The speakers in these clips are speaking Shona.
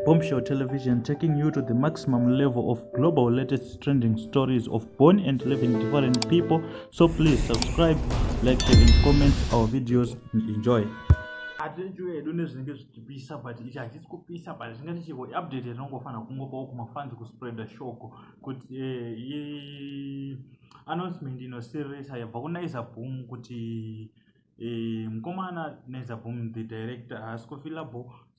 Bombshell Television taking you to the maximum level of global latest trending stories of born and living different people. So please subscribe, like, share, and comment our videos and enjoy. atirichiwo hedu nezvinenge zvichipisa but ichi hachisi kupisa but zvinge tichivo update yatinongofana kungopawo kumafanzi kuspreada shoko kuti eh, announcement inosirisa yabva kunaiza boom kuti eh, mukomana naiza boom the director haasi kufilabo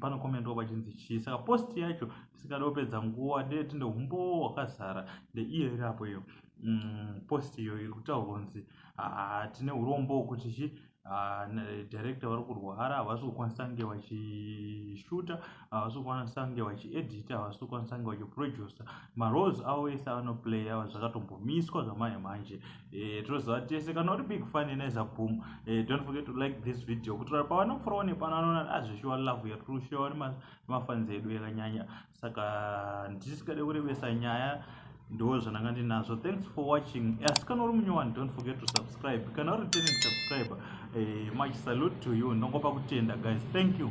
panokomendwa pachinzi chii saka post yacho tisingade kupedza nguva dee tine humbowo hwakazara ndeiyo iri apo iyo mm, post iyo iri kutaura kunzi ah, tine urombo hwekuti chi Ah, director vari kurwara havasi kukwanisa kunge vachishuta havasi kukwanisa kunge vachiedita havasi kukwanisa kunge vachiproducer maroles avo ese avanoplaya zvakatombomiswa zvamanje manje Eh, tinoziva tese kana uri big fan inaiza boom eh, don't forget to like this video kutora pavanofurawo nepano anoona azvishuwa ah, love yatiri kushuwa nemafanzi edu yakanyanya saka ndisikade kurevesa nyaya ndo zvananga ndinazvo thanks for watching asi kana uri munyowani don't forget to subscribe kana uri returning subscriber eh, much salute to you ndongopa kutenda guys thank you